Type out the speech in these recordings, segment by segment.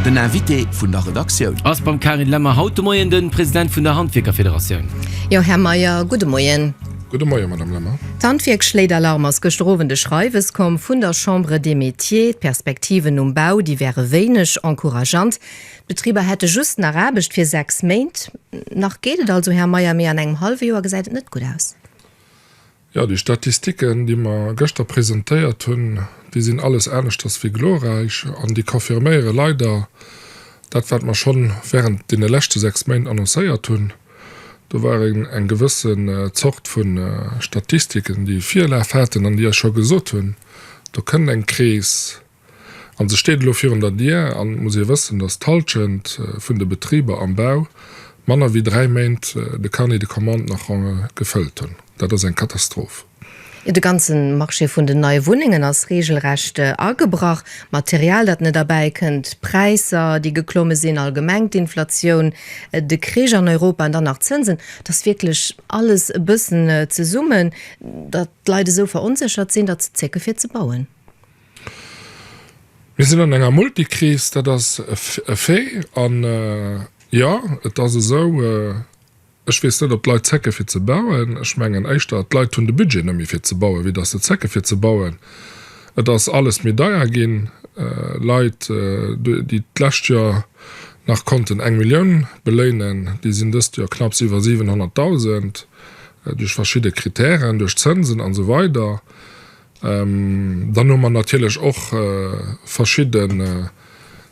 Den Invité vun der Redaktioun. Ass beim Karin Lemmer haut de Moien den President vun der Handwierkerfederatioun. Jo, Här Meyer, gudde Moien. Gudde Moien, Madame Lemmer. D'Handwierk schléit Alarm, ass gëschter Owend e Schreiwes komm vun der Chambre des Métiers. D'Perspektiven um Bau, déi wäre wéineg encourageant. D'Betriber hätte just nach Aarbecht fir sechs Méint. Nach geet et also, Här Meyer, mee an engem hallwe Joer gesäit et net gutt aus. Jo, déi Statistiken, déi mer gëschter presentéiert hunn, déi sinn alles aneschters wéi glorräich an déi confirméiere leider dat, wat mer schonn während deene leschte sechs Méint annoncéiert hunn. Do war eng gewësse Zort vu Statistiken, déi Virlaf haten an déi Iech scho gesot hunn, do kënnt eng Kris, An se steet elo virun der Dier. An et muss ee wëssen, datt d'Halschent vun de Betriber am Bau manner wéi dräi Méint de Carnet de commande nach ronge gefëllt hunn. Dat ass eng Katastroph. De ganze Marché vun den neie Wunnengen ass reegelrecht agebrach. D'Material, dat net erbäikënnt, d'Präisser, déi geklomme sinn, allgemeng d'Inflatioun, de Krich an Europa an dann nach d'Zënsen, et ass wierklech alles e bëssen zesummen, datt d'Leit esou veronséchert sinn, datt se zécke fir ze bauen. Mir sinn an enger Multikris, dat ass e Fait. An jo, et ass esou, ech weess net, ob d'Leit zécke fir ze bauen. Ech mengen éischter, d'Leit hunn de Budget net méi fir ze bauen, wéi datt se zécke fir ze bauen. Et ass alles méi deier ginn. Leit, déi d'lescht Joer nach konnten eng Millioun beléinen, déi sinn dëst Joer knapps iwwer 700.000, duerch verschidde Krittären, duerch Zënsen a sou weider. Dann hu mer natierlech och verschidden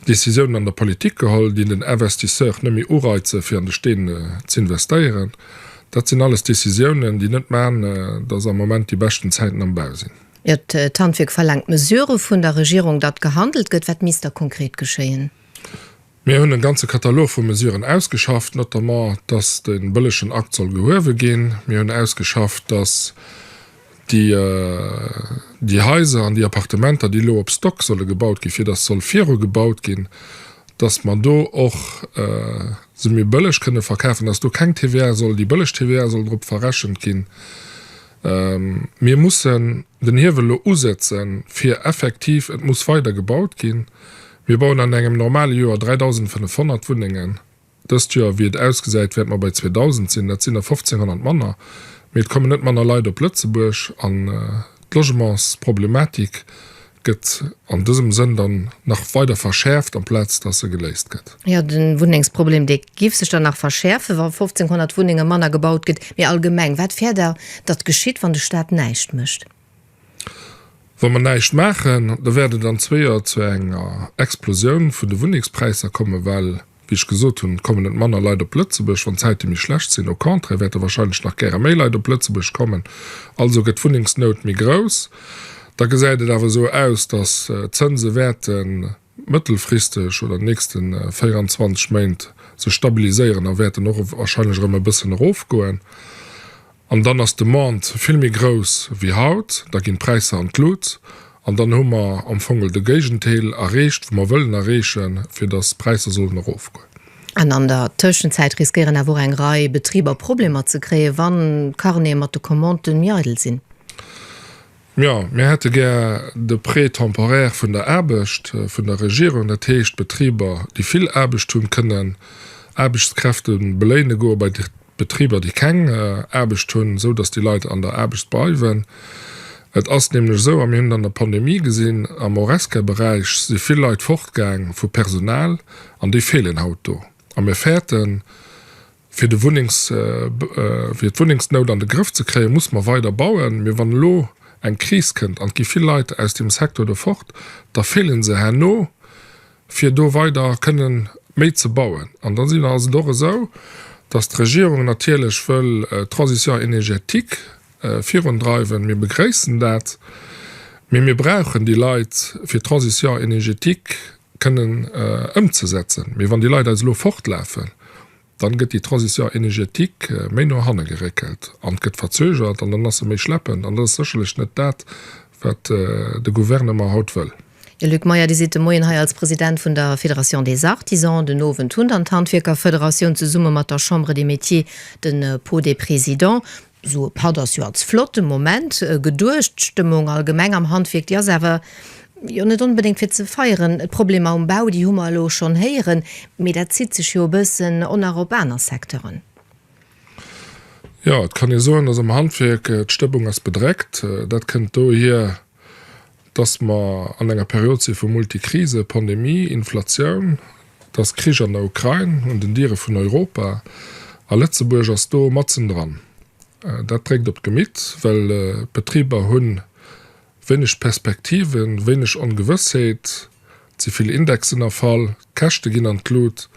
Décisiounen an der Politik geholl, déi den Investisseur net méi ureizen, fir an de Steen z'investéieren. Dat sinn alles Décisiounen, déi net maachen, dass am Moment déi beschten Zäiten am Bau sinn. D'Handwierk verlaangt Mesure vun der Regierung, datt gehandelt gëtt. Wat misst da konkret geschéien? Mir hunn e ganze Katalog vu Mesuren ausgeschafft, notamment, dass de bëllegen Akt soll gehuewe ginn. Mir hunn ausgeschafft, dass déi Haiser an déi Appartementer, déi elo op Stock solle gebaut ginn, fir dass soll virugebaut ginn, dass mer do och se méi bëlleg kënne verkafen, dass do keng TVA soll, déi bëlleg TVA soll drop verrechent ginn. Mir mussen. den Hiewel lo usetzen, fir effektiv, et muss weider gebaut ginn, mir bauen an engem normale Joer 3.500 Wunnengen, dëst Joer, wéi et ausgesäit, wäerte mer bei 2.000 sinn, dat sinn der 1.500 manner, mee et kommen net manner Leit op Lëtzebuerg an d'Logementsproblematik gëtt an dësem Sënn dann nach weider verschäerft, amplaz dass se geléist gëtt. Jo, de Wunnengsproblem, dee giff sech dann nach verschäerfen, wa 1.500 Wunnenge manner gebaut gëtt. Mee allgemeng, wat fäert Der, datt geschitt, wann de Staat näischt mécht? Wa mer näischt maachen, da wäert et an zwee Joer zu enger Explosioun vun de Wunnengspräisser kommen, well, wéi ech gesot hunn, et kommen net manner Leit op Lëtzebuerg, wann d'Zäite méi schlecht sinn. Au contraire wäerte warscheinlech nach gäre méi Leit op Lëtzebuerg kommen. Also gëtt d'Wunnengsnout méi grouss. Da gesäit et awer esou aus, datt d'Zënse wäerten mëttelfristeg oder nächste 24 Méint sech stabiliséieren a wäerten och warscheinlech erëm e bëssen erofgoen. An dann ass d'Demande vill méi grouss wéi haut, da ginn d'Präisser an d'Lut an dann hu mer am Fongel de Géigendeel erreecht wou mer wëllen erreechen, fir datt d'Präisser sollen erofgoen. An an der Tëschenzäit riskéieren awer och eng Rei Betriber Problemer ze kréien, wann d'Carnete mat de Commandë méi eidel sinn. Jo, mir hätte gär de Prêt temporaire vun der Aarbecht vun der Regierung, dat heescht, Betriber, déi vill Aarbecht hunn, kënnen Aarbechtskräfte beléine goe bei Betriber, déi keng Aarbecht hunn, esou datt déi Leit an der Aarbecht bleiwen. Et ass nämlech esou, a mir hunn et an der Pandemie gesinn, am Horesca-Beräich si vill Leit fortgaang vu Personal an déi feelen haut do. A mir fäerten, Fir d'Wunnengsnout an de Grëff ze kréien, muss mer weider bauen. Mee wann elo eng Kris kënnt an et gi vill Leit aus deem Secteur do fort, da feelen se herno, fir do weider kënnen méi ze bauen. An dann ass et och esou, dass d'Regierung natierlech wëll d'Transition énergétique, virundreiwen. Mir begréissen dat, mee mir brauchen déi Leit, fir d'Transition énergétique kënnen ëmzesetzen. Mee wann déi Leit eis elo fortlafen, dann gëtt déi Transition énergétique méi no hanne geréckelt an gëtt verzögert an dann ass se méi schleppend. An dat ass sécherlech net dat, wat de Gouvernement haut wëll. Här Luc Meyer, Dir sidd de Moien hei als President vun der Fédération des Artisans, den Owend hunn dann d'Handwierkerfederatioun zesumme mat der Chambre des Métiers de Pau des Présidents Sou e Patt ass jo als flotte Moment geduecht. D'Stëmmung allgemeng am Handwierk, déi ass awer jo net onbedéngt fir ze feieren. D'Problemer um Bau, déi hu mer elo schonn héieren, mee dat zitt sech jo e bëssen on nach op aner Secteuren. Jo, et kann ee soen, dass am Handwierk d'Stëmmung ass bedreckt. Dat kënnt dohier, dass mer an enger Period si vu Multikrise, Pandemie, Inflatioun, dass Krich an der Ukrain un den Diere vun Europa, a Lëtzebuerg ass do matzendran. Dat dréckt op d'Gemitt, well d'Betriber hu wéineg Perspektiven, wéineg Ongewëssheet, ze vill Indexen erfall, d'Käschte ginn an d'Lut.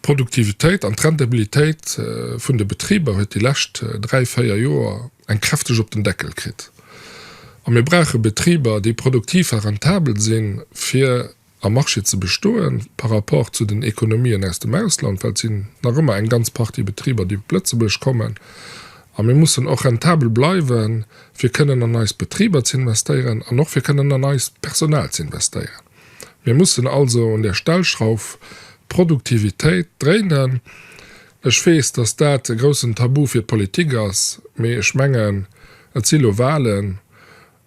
D'Produktivitéit an d'Rentabilitéit vun de Betriber huet déi lescht dräi, véier Joer eng kräfteg op den Deckel kritt. A mir brauche Betriber, déi produktiv a rentabel sinn, fir am Marché ze bestoen, par rapport zu den Ekonomien aus dem Ausland, well et sinn nach ëmmer eng ganz Partie Betriber, déi op Lëtzebuerg kommen. A mir mussen och rentabel bleiwen, fir kënnen an eis Betriber ze investéieren an och fir kënnen an eist Personal ze investéieren. Mir mussen also un der Stellschrauw Produktivitéit dréinen. Ech weess, dass dat e groussen Tabu fir d'Politik ass, mee ech mengen, et si lo Wahlen,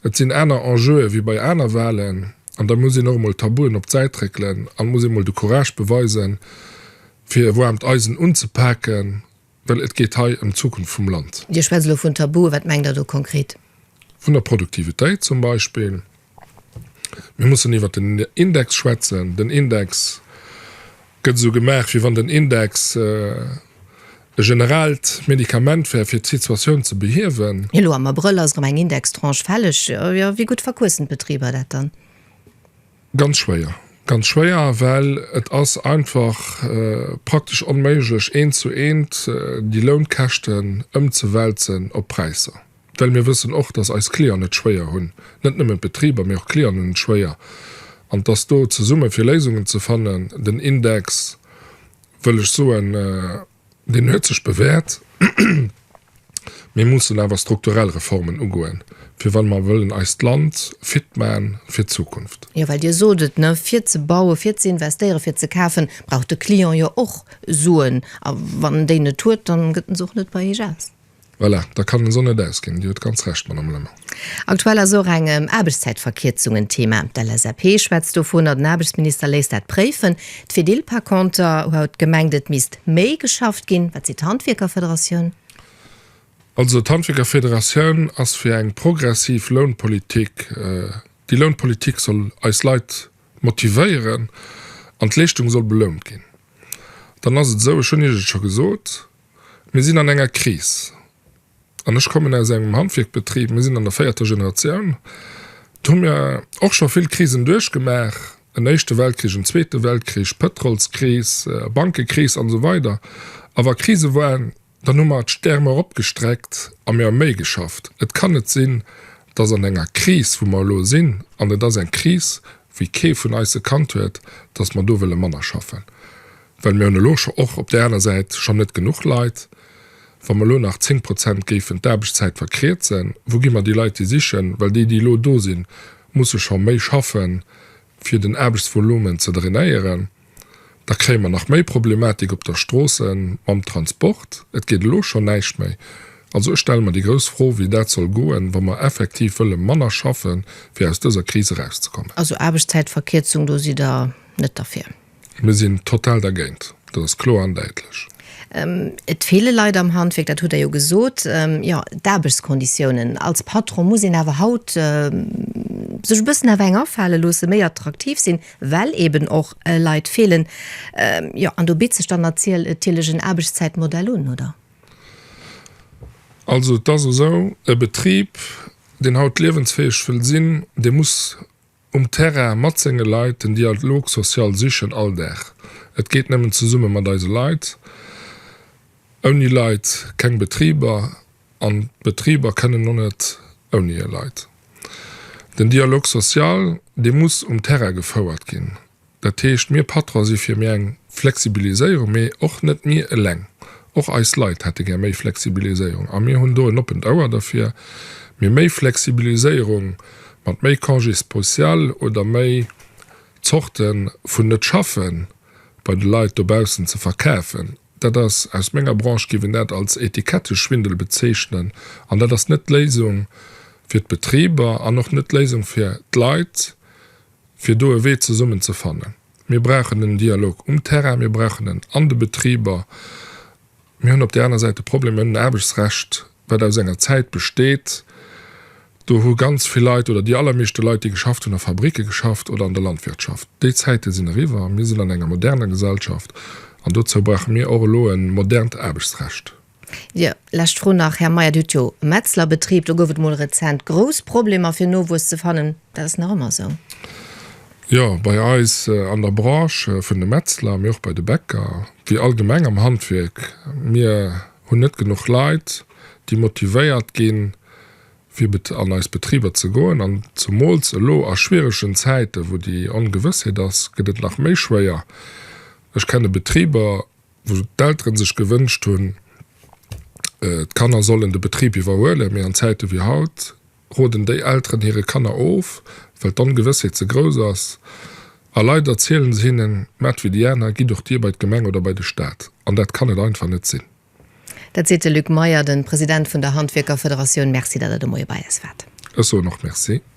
et sinn aner Enjeue wéi bei aner Wahlen, an da muss een och emol Tabuen op d'Säit réckelen an muss emol de Courage beweisen, fir e waarmt Eisen unzepaken. Well et geet hei ëm d'Zukunft vum Land. Dir schwätzt elo vun Tabuen. Wat mengt Der do konkret? Vun der Produktivitéit zum Beispill. Mir mussen iwwert den Index schwätzen. Den Index gëtt esou gemaach, wéi wann den Index e generaalt Medikament wär, fir d'Situatioun ze behiewen. Elo am Abrëll ass erëm eng Indextranche fälleg. Wéi gutt verquëssen d'Betriber dat dann? Ganz schwéier. Ganz schwéier, well et ass einfach praktesch onméiglech, eent zu eent déi Lounkäschten ëmzewälzen op d'Präisser. Well mir wëssen och, dass eis Clienten et schwéier hunn, net nëmmen d'Betriber, mee och d'Clienten hunn et schwéier, an dass do zesumme fir Léisungen ze fannen, den Index, wëll ech soen, Deen huet sech bewährt. Mir mussen awer strukturell Reformen ugoen, fir wa mer wëllen eist Land fit man fir d'Zukunft. Jo, well Dir sot et, ne, fir ze bauen, fir ze investéieren, fir ze kafen, brauch de Client jo och Suen. A wann en déi net huet, da gëtt en se och net bei Iech aus. Voilà, da kann den Son net ausginn. Dir hutt ganz Recht, Madame Lemmer. Aktuell ass och eng Aarbechtszäitverkierzung en Thema. D'LSAP schwätzt dovun a den Aarbechtsminister léisst dat préifen. D'Fedil par conter huet gemengt, et misst méi geschafft ginn. Wat seet d'Handwierkerfederatioun? Also d'Handwierkerfederatioun ass fir eng progressiv Lounpolitik. Déi Lounpolitik soll eis Leit motivéieren an d'Leeschtung soll belount ginn. Dann ass et esou, ech hunn Iech et scho gesot, Mir sinn an enger Kris. An ech kommen aus engem Handwierkbetrib, mir sinn an der véierter Generatioun. Do hu mir och scho vill Krisen duerchgemaach, en Éischte Weltkrich, en Zweete Weltkrich, Pëtrolskris, Bankekris an esou weider. A wa Krise waren, dann hu mer d'Stäerm eropgestreckt a mir hu méi geschafft. Et kann net sinn, dass an enger Kris, wou mer elo sinn, an et ass eng Kris, wéi kee vun eis se kannt huet, dass mer do wëlle manner schaffen. Well mir hunn elo scho och op där aner Säit schonn net genuch Leit. Wa mer elo nach 10 Prozent géifen d'Aarbechtszäit verkrierzen, wou gi mer déi Leit déi sichen? Well déi, déi elo do sinn, musse scho méi schaffen, fir den Aarbechtsvolumen ze drainéieren. Da kréie mer nach méi Problematik op der Stroosse mam Transport. Et geet elo schonn näischt méi. Also ech stelle mer déi grouss Fro, wéi dat soll goen, wa mer effektiv wëlle manner schaffen, fir aus dëser Kris erauszekommen. Also Aarbechtszäitverkierzung, do sidd Der net derfir? Mir sinn total dergéint, dat ass kloer an däitlech. Et feele Leit am Handwierk, dat hutt Der jo gesot. Jo, d'Aarbechtskonditiounen. Als Patron muss een awer haut sech e bëssen awer eng afale loossen, méi attraktiv sinn, well eeben och Leit feelen. Jo, an do bitt sech dann natierlech en Aarbechtszäitmodell un, oder? Also, et ass esou, e Betrib, deen haut liewensfäeg wëll sinn, dee muss Um Terrain, mat senge Leit, den Dialog social sichen, all Dag. Et geet nëmmen zesumme mat eise Leit. Ouni Leit keng Betriber an d'Betriber kënnen och net ouni hir Leit. Den Dialog social, dee muss um Terrain gefouert ginn. Dat heescht, mir Patronen si fir méi eng Flexibiliséierung, mee och net mir eleng. Och eis Leit hätte gär méi Flexibiliséierung a mir hunn do en oppent Ouer derfir. Mee méi Flexibiliséierung mat méi Congé spécial oder méi Zorte vun Net-Schaffe bei de Leit dobaussen ze verkäfen, dat ass, aus menger Branche géif een dat als Etiketteschwindel bezeechnen an dat ass net d'Léisung fir d'Betriber an och net d'Léisung fir d'Leit. fir do e Wee zesummen ze fannen. Mir brauchen den Dialog um Terrain, mir brauchen en an de Betriber. Mir hunn op där aner Säit de Problem ëm den Aarbechtsrecht, wat aus enger Zäit besteet, do hu ganz vill Leit oder déi allermeeschte Leit, déi geschafft hunn, a Fabricke geschafft oder an der Landwirtschaft. Déi Zäite sinn eriwwer. Mir sinn an enger moderner Gesellschaft an dozou brauche mir och elo e modernt Aarbechtsrecht. Jo, lescht Fro nach, Här Meyer, Dir hutt jo e Metzlerbetrib, do gouf et mol rezent grouss Problemer fir Nowuess ze fannen. Dat ass nach ëmmer esou? Jo, bei eis an der Branche vun de Metzler, mee och bei de Bäcker, wéi allgemeng am Handwierk, mir hunn net genuch Leit, déi motivéiert ginn, fir an eis Betriber ze goen. An zemools elo a schwieregen Zäiten, wou déi Ongewëssheet ass, gëtt et nach méi schwéier. Ech kenne Betriber, wou d'Elteren sech gewënscht hunn, d'Kanner sollen de Betrib iwwerhuelen, mee an Zäite wéi haut roden déi Elteren hire Kanner of, well d'Ongewëssheet ze grouss ass. A leider zielen se hinnen, Maacht wéi déi aner, gitt och Dir bei d'Gemeng oder bei de Staat. An dat kann et einfach net sinn. Dat seet de Luc Meyer, de President vun der Handwierkerfederatioun. Merci, datt Der de Moie bei eis waart. Ech soen och Merci.